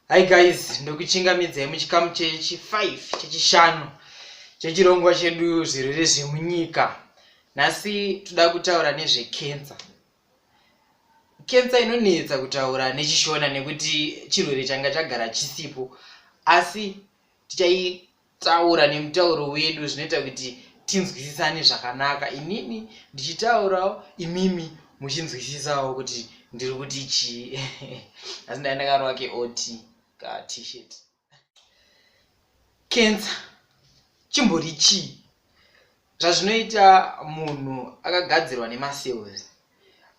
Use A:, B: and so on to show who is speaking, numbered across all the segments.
A: Hi guys, ndokuchingamidzai muchikamu chechi 5 chechishanu chechirongwa chedu zvirwere zvemunyika. Nhasi toda kutaura nezvekensa. Kensa inonetsa kutaura nechishona nekuti chirwere changa chagara chisipo, asi tichai taura nemutauro wedu zvinoita kuti tinzwisisane zvakanaka inini ndichitaurawo imimi muchinzwisisawo kuti ndiri kuti chii asi ndai ndakarova keot ka tshirt cancer chimbori chii zvazvinoita munhu akagadzirwa nemacells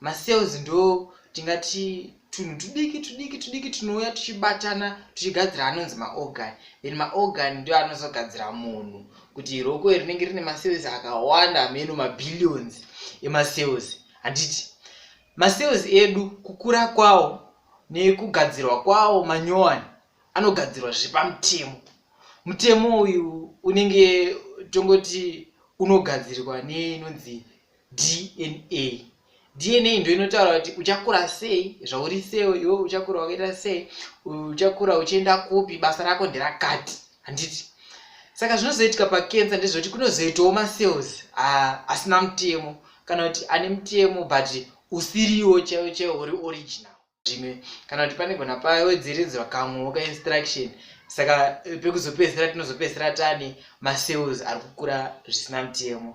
A: macells ndo tingati tunhu tudiki tudiki tudiki tunouya tuchibatana tuchigadzira anonzi maorgan then maorgan ndo anozogadzira munhu kuti roko rinenge rine macells akawanda ameno mabillions emacells handiti macells edu kukura kwawo nekugadzirwa kwawo manyowani anogadzirwa zviri pamutemo mutemo uyu unenge tongoti unogadzirwa neinonzi dna dna ndo inotaura kuti uchakura sei zvauri sewo iwe uchakura wakaita sei uchakura uchienda kupi basa rako nderakati handiti saka zvinozoitika pakensa ndezvekuti kunozoitawo macells asina mutemo kana kuti ane mutemo but usiriwo chaiwo chaiwo uri original zvimwe kana kuti panegona pawedzeredzwa kamwewo kainstruction saka eh, pekuzopedzisira tinozopedzisira tani macells ari kukura zvisina mutemo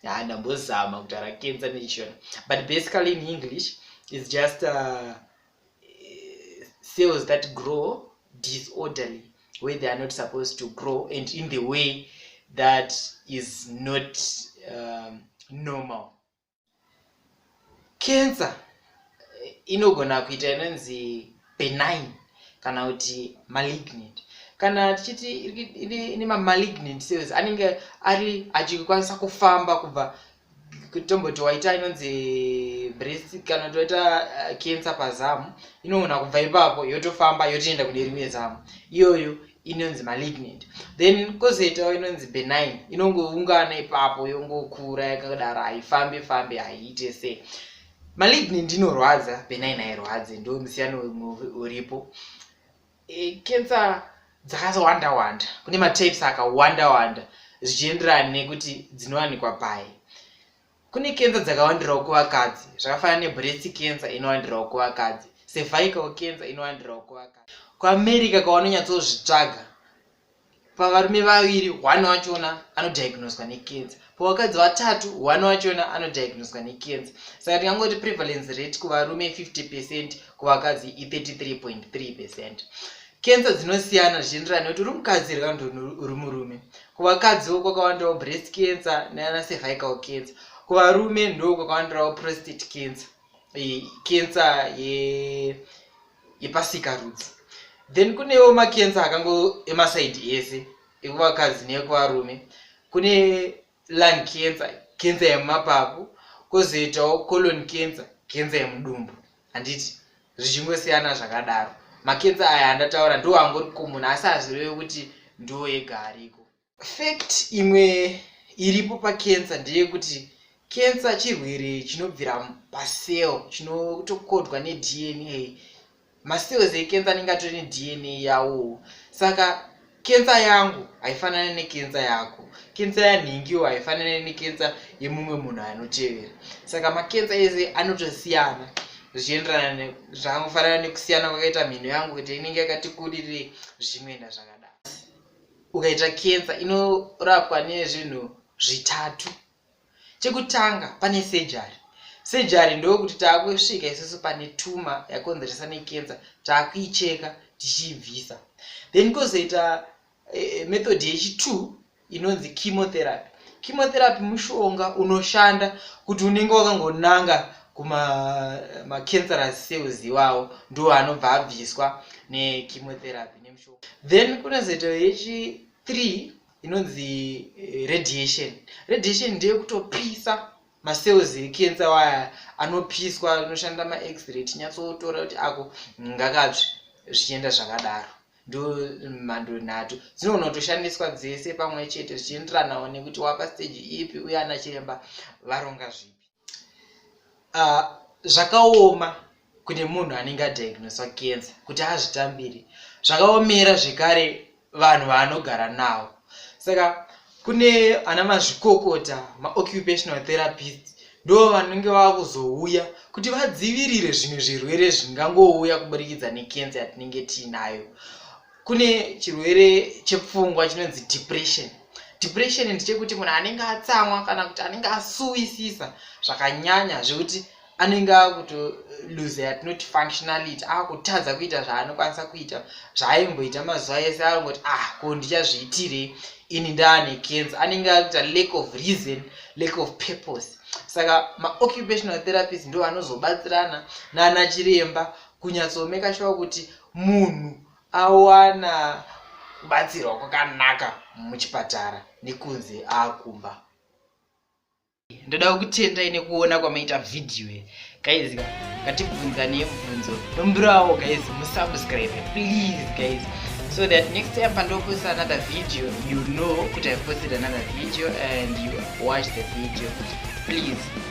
A: haa ndambozama kutaura kenza nechishona but basically in english is just uh, cells that grow disorderly where they are not supposed to grow and in the way that is not um, normal cancer inogona kuita inonzi benign kana kuti malignant kana tichiti ine mamalignant cells anenge ari achikwanisa kufamba kubva tomboti waita inonzi breast kana kuti waita eh, cancer pazamu inogona kubva ipapo yotofamba yotoenda kune rimwe zamu iyoyo inonzi malignant then kozoitawo inonzi benign inongoungana ipapo yongokura yakadaro haifambe fambe haiite sei malignant inorwadza benign hairwadze ndo musiyano uripo e, cancer dzakawanda wanda kune matapes akawanda wanda zvichienderana nekuti dzinowanikwa pai Kune kenza dzakawandirawo kuvakadzi zvakafanana nebreast kenza inowandirawo kuvakadzi cervical kenza inowandirawo kuvakadzi kuamerica kwavanonyatsozvitsvaga pavarume vaviri one wachona anodiagnoswa nekenza pavakadzi vatatu one wachona anodiagnoswa nekenza saka tingangoti prevalence rate kuvarume 50 percent kuvakadzi i33.3 percent kenza dzinosiyana zvichienderana nekuti uri mukadzi here kana kuti uri murume kuvakadziwo kwakawandawo breast cancer nana cervical cancer kuvarume ndo kwakawandirawo prostate cancer cancer yepasika rudzi then kunewo macancer akango emasaidi ese ekuvakadzi nekuvarume kune lung cancer cancer yemumapapu kozoitawo colon cancer cancer yemudumbu handiti zvichingosiyana zvakadaro makenza aya andataura ndo angori common asi hazvireve kuti ndo ega ariko fact imwe iripo pakenza ndeyekuti kenza chirwere chinobvira pacell chinotokodwa nedna macells ekenza anenge atori nedna yawo saka kensa yangu haifanane nekensa yako kensa yanhingiwo haifanane nekensa yemumwe munhu anotevera saka makensa ese anotosiyana zvichienderana zvakangofanana nekusiyana kwakaita mhino yangu kuti inenge yakati kurirei zvichinoenda zvakadaro ukaita kensa inorapwa nezvinhu zvitatu chekutanga pane surgery surgery ndokuti taakusvika isusu pane tuma yakonzeresa nekenza taakuicheka tichiibvisa then kozoita eh, method yechitwo inonzi chemotherapy chemotherapy mushonga unoshanda kuti unenge wakangonanga kumamacancerous eh, cells iwawo ndo anobva abviswa nechemotherapy nemushonga then kunozoita yechi three inonzi eh, radiation radiation ndeyekutopisa macells ekensa waya anopiswa anoshanda maexray tinyatsotora kuti ako ngakatsvi zvichienda zvakadaro ndo mhando nhatu dzinogona kutoshandiswa dzese pamwe chete zvichienderanawo nekuti wapa stage ipi uye ana chiremba varonga zvipi uh, zvakaoma kune munhu anenge adiagnoswa kensa kuti azvitambire zvakaomera zvekare vanhu vaanogara nawo saka kune ana mazvikokota maoccupational therapist ndo vanenge vava kuzouya kuti vadzivirire zvimwe zvirwere zvingangouya kuburikidza nekensa yatinenge tiinayo kune chirwere chepfungwa chinonzi depression depression ndichekuti munhu anenge atsamwa kana kuti anenge asuwisisa zvakanyanya zvekuti anenge akuto lose yatinoti functionality akutadza kuita zvaanokwanisa kuita zvaaimboita mazuva ese akungoti ah ko ndichazviitirei ini ndaane kenza anenge akuita lack of reason lack of purpose saka maoccupational therapist ndo anozobatsirana nana chiremba kunyatsoomeka shuwa kuti munhu awana kubatsirwa kwakanaka muchipatara nekunze akumba ndoda kukutendai nekuona kwamaita vhidhiyo iyi guys ngatibvunza nemubvunzo nombirawo guys musubscribe please guys so that next time pandoposta another video you know kuti i posted another video and you watch the video please